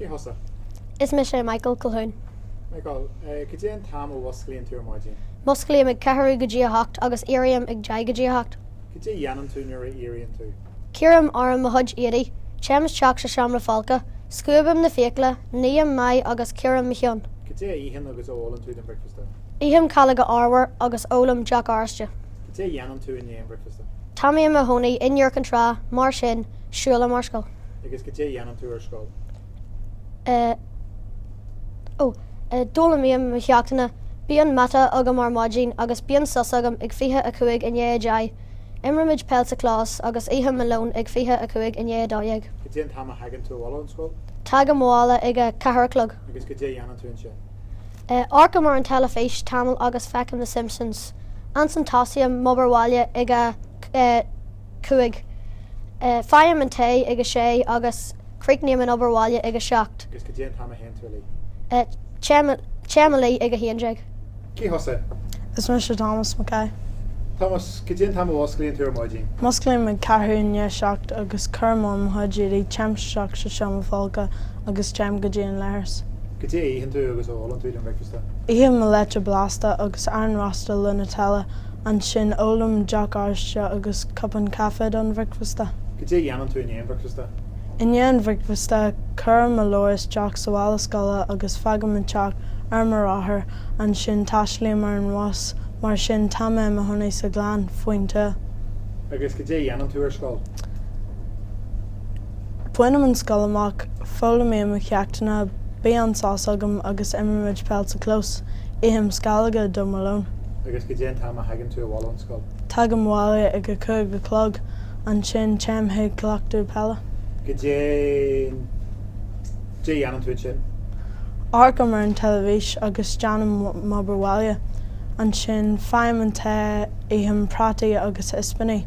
Cé thusa? Is mise Michael Colquhoun. Michael, cad é an t-am a mhusclaíonn tú ar maidin? Musclaím ag ceathrú go dtí a hocht agus éirím ag deich go dtí a hocht. Cad é a dhéanann tú nuair a éiríonn tú? Cuirim orm mo chuid éadaí, téim isteach sa seomra folctha, scuabaim na fiacla, ním m'aghaidh agus cíoraim mo cheann. Cad é a itheann agus a ólann tú don bhricfeasta? Ithim calóga arbhair agus ólaim deoch oráiste. Cad é a dhéanann tú i ndiaidh an bhricfeasta? Tá mé i mo chónaí in Iúr Cinn Trá, mar sin, siúlaim ar scoil. Agus cad é a dhéanann tú ar scoil? Eh. Ó. Eh, d'fhoghlaimím mo cheachtanna. Bíonn mata agam ar maidin agus bíonn sos agam ag fiche a cúig i ndiaidh a deich. Imrímid peil sa chlós agus ithim mo lón ag 25 i ndiaidh a dó dhéag. Cad é an t-am a thagann tú abhaile ón scoil? Tagaim abhaile ag a ceathair a chlog. Agus cad é a dhéanann tú ansin? Amharcaim ar an teilifís tamall agus feicim The Simpsons. Ansin tosaím m'obair bhaile ag a cúig. Faighim an tae ag a sé agus. Críochnaím an obair bhaile ag a seacht. Agus cad é an t-am a théann tú a luí? Téim a luí ag a haon déag. Cé thusa? Is mise Tomás Mac Aoidh. Tomás, cad é an t-am a mhusclaíonn tú ar maidin? Musclaím ag ceathrú i ndiaidh a seacht agus cuirim orm mo chuid éadaigh, téim isteach sa seomra folctha agus téim go dtí an leithreas. Cad é a itheann tú agus a ólann tú don bhricfeasta? Ithim mo leite blasta agus arán rósta le Nutella. Ansin ólaim deoch oráiste agus cupán caife don bhricfeasta. Cad é a dhéanann tú i ndiaidh an bhricfeasta? I ndiaidh an bhricfeasta, cuirim mo leabhar isteach sa mhála scoile agus fágaim an teach ar mo rothar, ansin taistlím ar an bhus, mar sin tá mé i mo chónaí sa Ghleann faoin tuath. Agus cad é a dhéanann tú ar scoil? Bainim an scoil amach, foghlaimím mo cheachtanna, bíonn an sos agam agus imrímid peil sa clós. Ithim sceallóga do mo lón. Agus cad é an t-am a thagann tú abhaile ón scoil? Tagaim abhaile ag a cúig a chlog, ansin téim chuig cleachtadh peile. Cad é, cad é a dhéanann tú ansin? Amharcaim ar an teilifís agus déanaim m'obair bhaile. Ansin faighim an tae, ithim prátaí agus ispíní.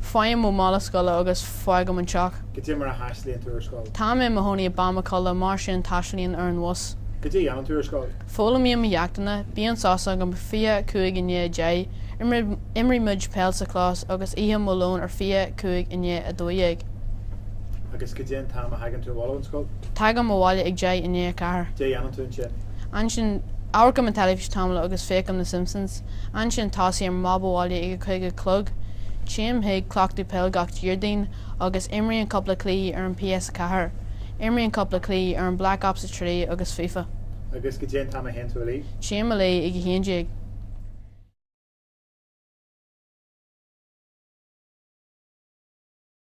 Faighim mo mhála scoile agus fágaim an teach. Cad é mar a thaistlíonn tú ar scoil. Tá mé i mo chónaí i bPamukala, mar sin taistlíonn ar an bhus. Cad é a dhéanann tú ar scoil. Foghlaimím mo cheachtanna. Bíonn sos agam 25 i ndiaidh a deich, imrímid peil sa chlós agus ithim mo lón ar 25 i ndiaidh a dó dhéag. Agus cad é an t-am a thagann tú abhaile ón scoil? Tagaim abhaile ag deich i ndiaidh a ceathair. Cad é a dhéanann tú ansin? Ansin, amharcaim an teilifís tamall agus féachaim na Simpsons. Ansin tosaím ar m'obair bhaile ag a cúig a chlog. Téim chuig cleachtadh peil gach Déardaoin agus imrím cúpla cluichí ar an PS4. Imrím cúpla cluichí ar an Black Ops 3 agus Fifa. Agus cad é an t-am a théann tú a luí? Téim a luí ag a haon déag.